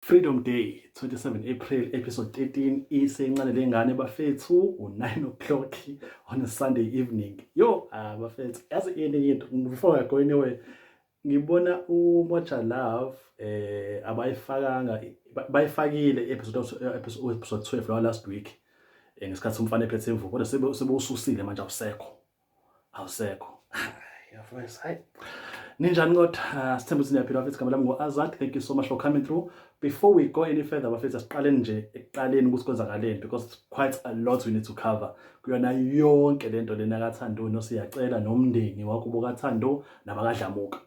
Freedom Day 27 April episode 13 isencane lengane bafethu u9 o'clock on a Sunday evening yo ah, bafethu yazi ini into before I go anywhere ngibona uMoja Love eh abayifakanga bayifakile episode episode 12 last week eh, ngesikhathi umfana ephethe imvubu kodwa sebewususile manje awusekho awusekho yafowes hayi ninjani kodwa ah, sithemba ukuthi niyaphila bafethu igama lami ngo-azad thank you so much for coming through before we go any further bafethu asiqaleni nje ekuqaleni ukuthi kwenzakaleni because quite a lot we need to cover kuyona yonke le nto lena kathando nosiyacela nomndeni wakubo kathando nabakadlamuka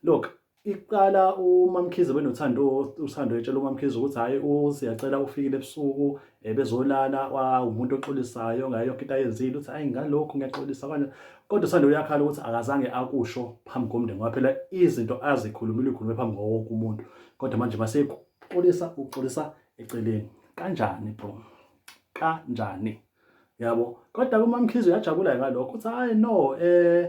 look iqala umamkhize benothando uthando etshela umamkhize ukuthi hhayi usiyacela ufikile ebusuku eh, bezolala umuntu oxolisayo ngayo yonke into ayenzile uthi hhayi ngalokhu ngiyaxolisa kanje kodwa uthando uyakhala ukuthi akazange akusho phambi komndeni ngoba phela izinto azikhulumile ukhulume phambi kwawo wonke umuntu kodwa manje masekuxolisa uxolisa eceleni kanjani bro kanjani yabo kodwa kumamkhize uyajabula ngalokho uthi hhayi no um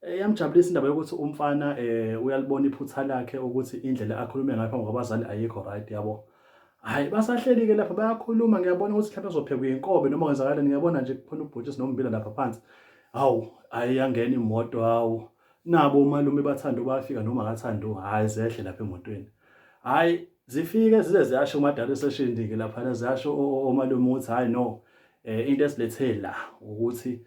Eh, yamjabulisa indaba yokuthi umfana um uyalibona iphutha lakhe ukuthi indlela akhulume ngayo phambi kwabazali ayikho right yabo hhayi basahleli-ke lapha bayakhuluma ngiyabona ukuthi mhlawumbe uzophekwa inkobe noma kwenzakaleni ngiyabona nje kukhona ubhutshisi nombila lapha phansi hawu hhayi yangena imoto hawu nabo umalume bathanda ubafika noma akathanda hhayi zehle lapha emotweni hhayi zifike zize ziyasho umadala eseshindike laphana ziyasho omalume ukuthi hhayi no um into esilethela ukuthi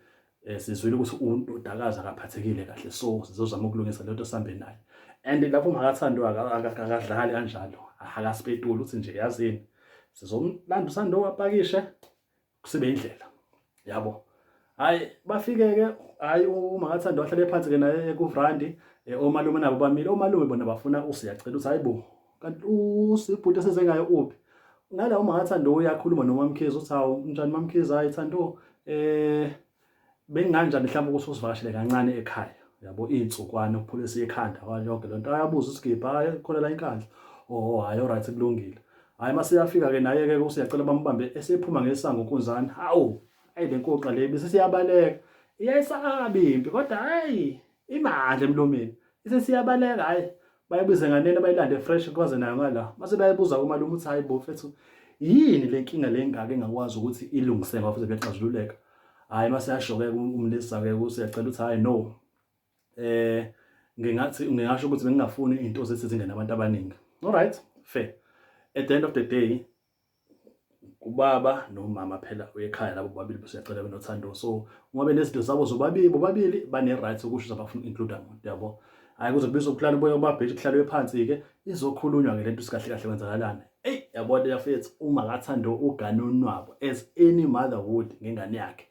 eh, sizwile ukuthi undodakazi akaphathekile kahle so sizozama ukulungisa lento sihambe naye and lapho makathandwa akadlali kanjalo akasipetuli uthi nje yazini sizomlanda usando wapakishe kusibe indlela yabo hayi bafike-ke hayi umakathandwa wahlale phansi-ke naye kuvrandi eh, omalume nabo bamile omalume bona bafuna usiyacela ukuthi hayi bo kanti usibhuti eseze ngayo uphi ngala uma ngathanda uyakhuluma nomamkhizi uthi hawu njani mamkhizi hayi thando eh benginganjani mhlawumbe ukuthi usivakashele kancane ekhaya yabo iy'nsukwane ukuphulisa ikhanda kwayonke le nto ayabuza usigibha hayi kholela inkandla oho hhayi oright kulungile hhayi uma seyafika-ke naye-ke usiyacela bambambe esephuma ngesango unkunzane hawu ayi le nkoqa le bese siyabaleka iyayisaba impi kodwa hhayi imandla emlomeni isesiyabaleka hhayi bayibize nganene bayilande fresh kwaze nayo ngala mase bayibuza kumalume ukuthi hayi bo fethu yini le nkinga le ngaka engakwazi ukuthi ilungise ngoba futhi kuyaxazululeka hayi mase yashoke umlisa ke usiyacela ukuthi hayi no eh ngingathi ngingasho ukuthi bengingafuni into zesizingane abantu abaningi all right fair at the end of the day ubaba nomama phela uyekhaya labo bobabili besiyacela benothando so uma benezinto zabo zobabili bobabili bane-right sokusho ukuthi abafuna uku-includa muntu yabo hhayi kuze kubiza ukuhlala uboya ubabhethi kuhlalwe phansi-ke izokhulunywa ngelento sikahle kahle kwenzakalana eyi yabona yafethu uma kathanda ugane unwabo as any mother would ngengane yakhe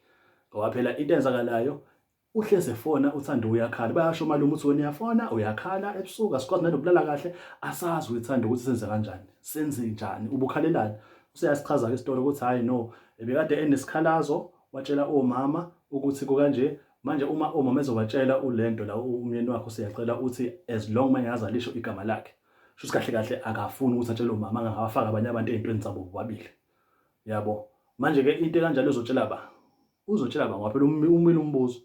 ngoba phela into enzakalayo uhlezi efona uthanda uyakhala bayasho malume uthi wena uyafona uyakhala ebusuku asikwazi nanokulala kahle asazi uyithanda ukuthi senze kanjani senze njani ubukhalelani useyasichaza ke isitolo ukuthi hayi no ebekade enesikhalazo watshela omama ukuthi kukanje manje uma omama ezobatshela ulento la umyeni wakho siyacela uthi as long mangaza lisho igama lakhe shuthi kahle kahle akafuni ukuthi atshele umama angawafaka abanye abantu ezintweni zabo bobabili yabo manje ke into kanjalo ezotshela ba uzotshela baba phela umile umbuzo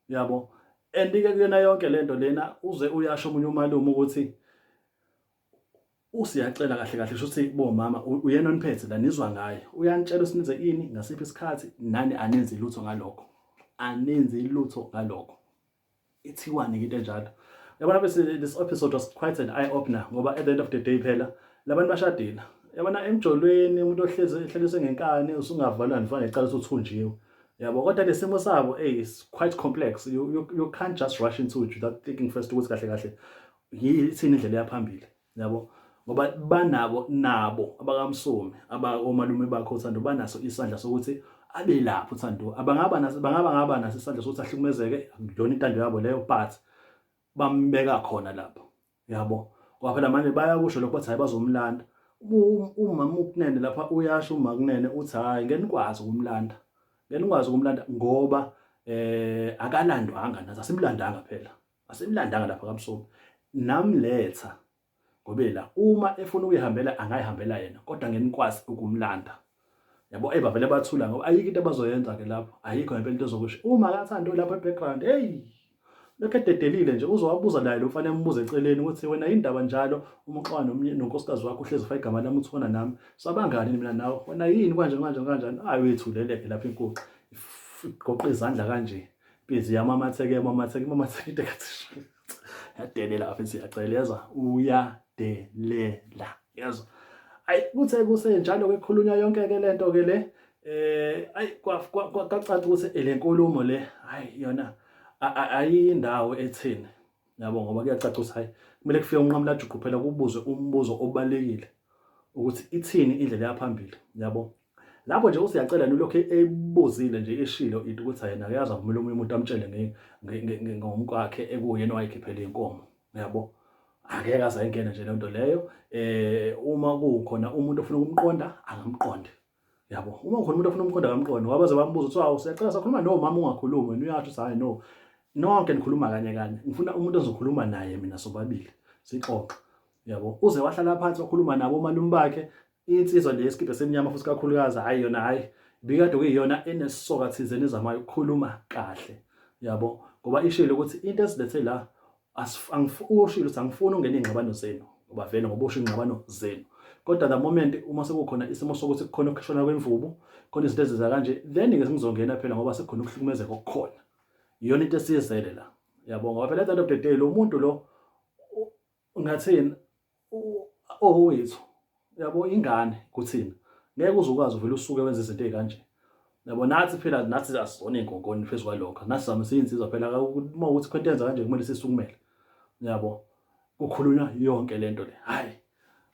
yabo and ke kuyona yonke lento lena uze uyasho umunye umalume ukuthi usiyacela kahle kahle shuthi bomama uyena oniphethe la nizwa ngaye uyanitshela usinize ini ngasiphi isikhathi nani anenzi lutho ngalokho anenzi lutho ngalokho ithiwani ke into enjalo yabona bese this episode was quite an eye opener ngoba at the end of the day phela labantu bashadile yabona emjolweni umuntu ohlezi ehlelise ngenkani usungavalwa nifana ecala usuthunjiwe yabo kodwa nesimo sabo hey is quite complex you, you, you can't just rush into it without thinking first ukuthi kahle kahle yithini indlela yaphambili yabo ngoba banabo nabo abakamsomi abakomalume bakho uthando banaso isandla sokuthi abe lapho uthando abangaba naso bangaba ngaba naso isandla sokuthi ahlukumezeke akuyona intando yabo leyo but bambeka khona lapho yabo ngoba phela manje bayakusho lokho bathi hayi bazomlanda umama ukunene lapha uyasho uma kunene uthi hayi ngeke nikwazi ukumlanda ngeke nikwazi ukumlanda ngoba eh akalandwanga nathi asimlandanga phela asimlandanga lapha kamsomi namletha ngobela uma efuna ukuyihambela angayihambela yena kodwa ngenikwazi ukumlanda yabo eba vele bathula ngoba ayikho into abazoyenza ke lapho ayikho ngempela into ezokusho uma akathanda lapha ebackground hey lokho ededelile nje uzowabuza naye lo mfana embuza eceleni ukuthi wena yindaba njalo uma uxoxa nomnye nonkosikazi wakho uhlezi fa igama lami uthona nami sabangani mina nawe wena yini kanje kanje kanje ayi wethuleleke lapha inkuxa igoqa izandla kanje Busy yamamatheke yamamatheke imamatheke tekathisha. Yadelela afisi yaceleza uyadelela. Yezwa. Ayi kuthe kusenjalo ke khulunywa yonke ke lento ke le eh ayi kwacaca ukuthi le nkulumo le hayi yona ayindawo ethini yabo ngoba kuyacaca ukuthi hayi kumele kufike unqamulajuqu phela kubuzwe umbuzo obalekile ukuthi ithini indlela yaphambili yabo lapho nje usiyacela nilokhu ebuzile nje eshilo into ukuthi yena uyazi avumela omunye umuntu amtshele ngomkwakhe ekuyena owayekhiphela inkomo yabo angeke aze ayingene nje lento leyo eh uma kukhona umuntu ofuna ukumqonda angamqondi yabo uma ukhona umuntu ofuna umqondo kamqondo ngoba baze bambuza ukuthi awu siyacela sakhuluma no mama ungakhulumi wena uyasho ukuthi hayi no nonke nikhuluma kanye kanye ngifuna umuntu ozokhuluma naye mina sobabili sixoxe yabo uze wahlala phansi wakhuluma nabo omalume bakhe insizwa le yesikibhe semnyama futhi kakhulukazi hayi yona hayi bikade kuyiyona enesoka thizeni ezamayo ukukhuluma kahle yabo ngoba ishilo ukuthi into esilethe la Ushilo ukuthi angifuni ungena iy'ngxabano zenu ngoba vele ngoba usho iy'ngxabano zenu kodwa the moment uma sekukhona isimo sokuthi kukhona ukukhishwana kwemvubu khona izinto ezenza kanje then-ke sengizongena phela ngoba sekukhona ukuhlukumezeka okukhona iyona into esiyizele la yabo ngoba phela at the end of the day lo muntu lo ngathini owethu yabo ingane kuthina ngeke uze ukwazi uvele usuke wenze izinto ezikanje yabo nathi phela nathi asizona inkonkoni phezu kwalokho nathi zama siyinsizwa phela uma ukuthi khona yenza kanje kumele sisukumele yabo kukhulunywa yonke lento le hayi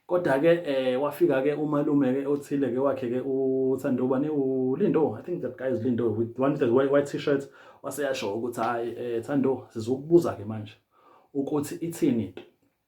kodwa ke eh wafika ke umalume ke othile ke wakhe ke uthandoba ne ulindo i think that guy is lindo with one that white, white t-shirt waseyasho ukuthi hayi eh thando sizokubuza ke manje ukuthi ithini into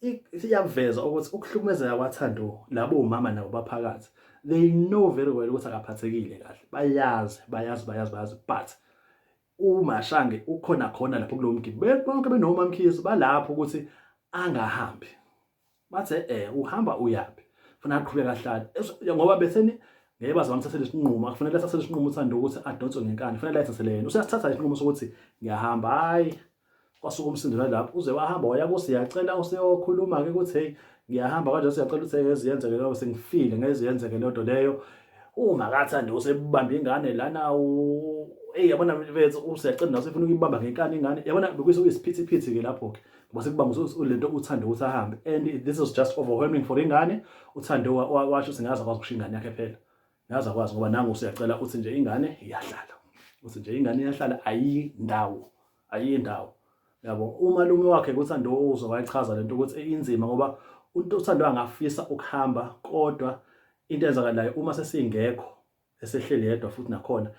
iyakuveza ukuthi ukuhlukumezeka kwaThando labo umama nabo baphakathi they know very well ukuthi akaphathekile kahle bayazi bayazi bayazi bayazi but umashange ukhona khona lapho kulo mgidi bonke benoma mkhizi balapho ukuthi angahambi bathe eh uhamba uyaphi funa aqhubeke ahlale ngoba betheni ngeke baze bamthathele isinqumo akufanele athathele isinqumo uthanda ukuthi adonswe ngenkani kufanele ayithathele yena useyasithatha isinqumo sokuthi ngiyahamba hayi kwasuka umsindo nalapho uze wahamba waya kusi yacela useyokhuluma ke ukuthi hey ngiyahamba kanjalo siyacela ukuthi ngeke ziyenzeke leyo sengifile ngeke ziyenzeke leyo nto leyo uma kathanda usebamba ingane lana hey yabona mfethu usiyacela naso ufuna ukuyibamba ngenkani ingane yabona bekuyise uyisiphithiphithi ke lapho ke ngoba sekubanga lento uthande ukuthi ahambe and this is just overwhelming for ingane uthande washo singaza kwazi ukushinga ingane yakhe phela naze akwazi ngoba nangu usiyacela uthi nje ingane iyahlala uthi nje ingane iyahlala ayindawo ayindawo yabo umalume wakhe kuthi andozo wayichaza lento ukuthi inzima ngoba umuntu uthando angafisa ukuhamba kodwa into enzakalayo uma sesingekho esehleli yedwa futhi nakhona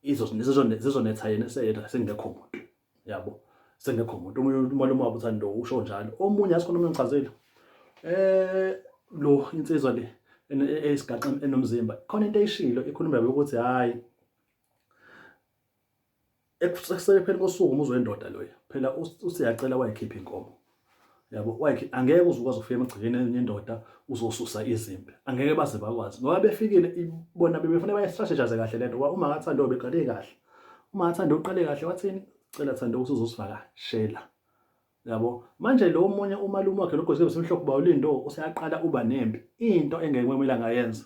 izozonetha yena eseyedwa sengekho muntu yabo sengekho umuntu omunye umalume wabo uthanda lo usho njalo omunye asikhona omunye ngichazile eh lo insizwa le esigaxa enomzimba khona into eyishilo ikhuluma yabo ukuthi hayi ekuselepheni kosuku umuzwe indoda loyo phela usiyacela wayikhipha inkomo yabo like angeke uze ukwazi ukufika emagcekeni enendoda uzosusa izimpi angeke baze bakwazi ngoba befikile bona bebefuna bayistrategize kahle lento ngoba uma ngathanda beqale kahle uma ngathanda uqale kahle wathini cela thanda ukuthi uzosivakashela yabo manje lo munye umalume wakhe logozi besimhlophe bawulindo useyaqala uba nempi into engeke kumele ngayenza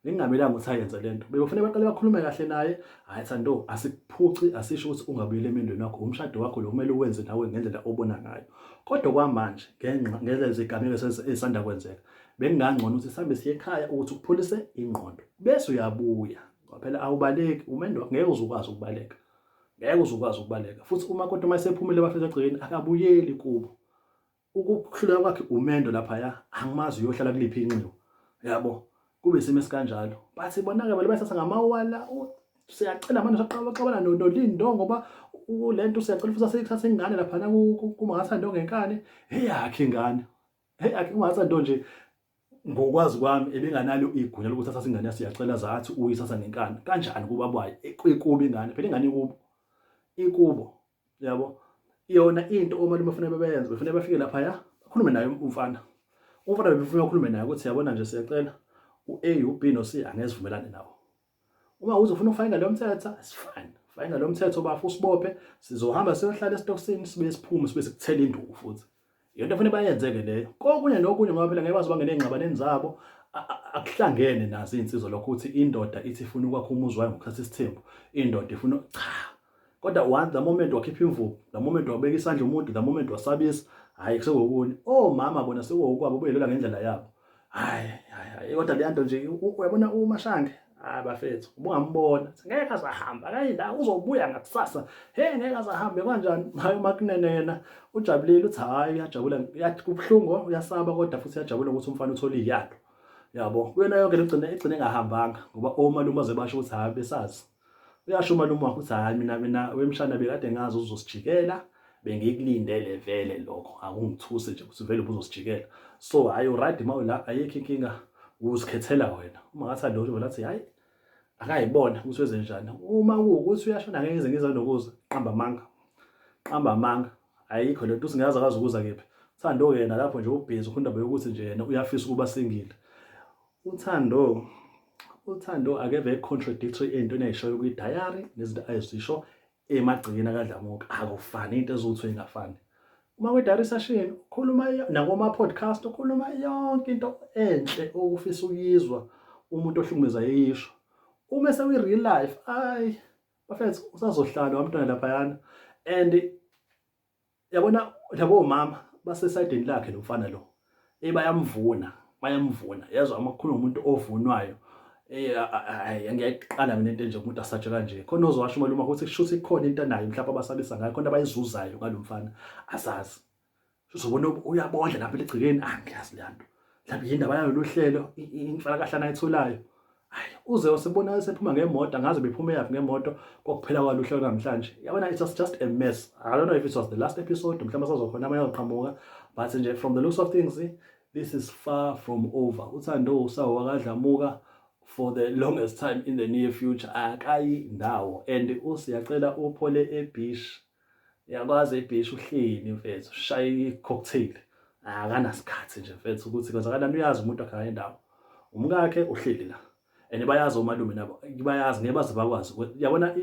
Ningamelanga ukuthi ayenze le nto. Bekufanele baqale bakhulume kahle naye. Hhayi Thando, asikuphuci, asisho ukuthi ungabuyeli emendweni wakho. Umshado wakho lo kumele uwenze nawe ngendlela obona ngayo. Kodwa kwamanje, ngenxa ngenxa zezigameko ezisanda kwenzeka, bekungangcono ukuthi sihambe siye ekhaya ukuthi ukupholise ingqondo. Bese uyabuya. Phela awubaleki, umendo wakho ngeke uze ukwazi ukubaleka. Ngeke uze ukwazi ukubaleka. Futhi umakoti uma esephumile bafika egcekeni, akabuyeli kubo. ukuhluleka kwakhe umendo laphaya angimazi uyohlala kuliphi inxiwa yabo kube isimo esikanjalo bathi bona-ke bale basasa ngamawala siyacela manje saqabaxabana nolindo ngoba le nto siyacela futhi aseyithatha ingane laphana kumangatha nto ngenkani eyakhe ingane eyakhe kumangatha nto nje ngokwazi kwami ebenganalo igunya lokuthi athathe ingane yasiyacela zathi uyithatha ngenkani kanjani kuba bwayo ekubi ingane phela ingane ikubo ikubo yabo yona into omalume bafuna bebeyenze befuna bafike lapha ya bakhulume naye umfana umfana befuna ukhulume naye ukuthi yabona nje siyacela u-A u-B no-C angesivumelane nawo uma uzofuna ukufaka ngalo mthetho asifani faka ngalo mthetho bafu usibophe sizohamba siyohlala esitokisini sibe siphume sibe sikuthela induku futhi yonto fanele bayenzeke leyo kokunye nokunye ngoba phela ngeke baze bangene engxabaneni zabo akuhlangene nazo izinsizwa lokho ukuthi indoda ithi ifuna ukwakha umuzi wayo ngokuthatha isithembu indoda ifuna cha kodwa one the moment wakhipha imvubu the moment wabeka isandla umuntu the moment wasabisa hhayi sekuwokunye omama bona sekuwokwabo beyelela ngendlela yabo hayi hayi kodwa leya nto nje uyabona umashange hayi bafethu ubungambona ngeke azahamba akayi la uzobuya ngakusasa he ngeke azahambe kanjani hayi umakunene yena ujabulile uthi hayi uyajabula kubuhlungu uyasaba kodwa futhi uyajabula ukuthi umfana uthole iyalo yabo kuyona yonke lugcine egcine engahambanga ngoba omalume azebasho ukuthi hayi besazi uyasho umalume wakho ukuthi hayi mina mina wemshana bekade ngazi uzosijikela bengikulindele vele lokho akungithuse nje ukuthi vele ubuzosijikela so hayi uradi mawu la ayikho inkinga uzikhethela wena uma ngathi alotho vele athi hayi akayibona ukuthi wenze njani uma kuwukuthi uyashona ngeke ngize ngize nokuza qamba amanga qamba amanga ayikho lento usingaza kazi ukuza kephi Thando yena lapho nje ubhizi khona indaba yokuthi nje yena uyafisa ukuba singile UThando uThando akeve contradictory entweni ayishoyo kwi diary nezinto ayizisho emagcikeni akadlamuka akufani into ezuthu ingafani uma kwi diary session ukhuluma nakoma podcast ukhuluma yonke into enhle okufisa uyizwa umuntu ohlukumeza yeyisho uma sewi real life ay bafethu usazohlala wamntwana lapha yana and yabona labo mama basesayidini lakhe lo mfana lo eh bayamvuna bayamvuna yezwa uma kukhuluma umuntu ovunwayo eh ngiyayiqala mina into enje umuntu asatshe kanje khona ozowasho uma luma ukuthi kushuthi ikhona into anayo mhlawumbe abasabisa ngayo khona abayizuzayo ngalomfana asazi uzobona uyabondla lapha eligcikeni angiyazi ah, lento mhlawumbe yindaba yalolu hlelo inhlalakahle anayitholayo hayi uze usibona esephuma ngemoto angazi bephuma yaphi ngemoto kokuphela kwalo uhlelo namhlanje yabona it was just a mess i don't know if it was the last episode mhlawumbe sazokhona amanye oqhamuka but nje from the looks of things this is far from over uthando usawo wakadlamuka for the longest time in the near future akayi ndawo and usiyacela uphole ebish Uyakwazi ibhishi uhleni mfethu ushaye i-cocktail akanasikhathi nje mfethu ukuthi kwenzakalani uyazi umuntu wakhe ngale ndawo umkakhe uhleli la and bayazi omalume nabo bayazi ngeke baze bakwazi yabona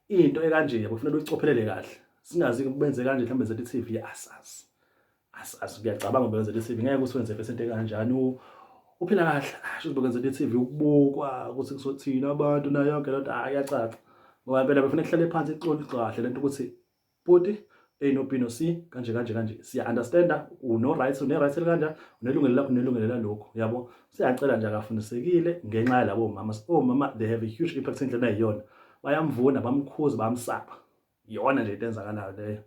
into ekanje yabo kufanele uyicophelele kahle singazi benze kanje mhlawumbe zethu i-TV asazi asiyacabanga ubekwenzela i-CV ngeke usiwenze face into kanjani uphila kahle asho ubekwenzela i-CV ukubukwa ukuthi kuzothina abantu nayo yonke lento hayi yacaca ngoba impela befuna kuhlale phansi ixoli kahle lento ukuthi bhuti A no B no C kanje kanje kanje siya understanda uno rights une rights kanje unelungelo lakho unelungelo lalokho yabo siyacela nje akafundisekile ngenxa yalabo mama so mama they have a huge impact endlena iyona bayamvuna bamkhuza bamsapha iyona nje into enzakalayo leyo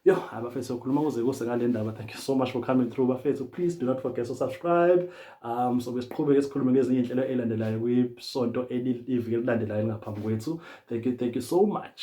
yo hayi bafethu sokhuluma kuze kuse ngale ndaba thank you so much for coming through bafethu please do not forget to subscribe um so besiqhubeke sikhulume ngezinye inhlelo elandelayo kwisonto elivike lilandelayo ngaphambi kwethu thank you thank you so much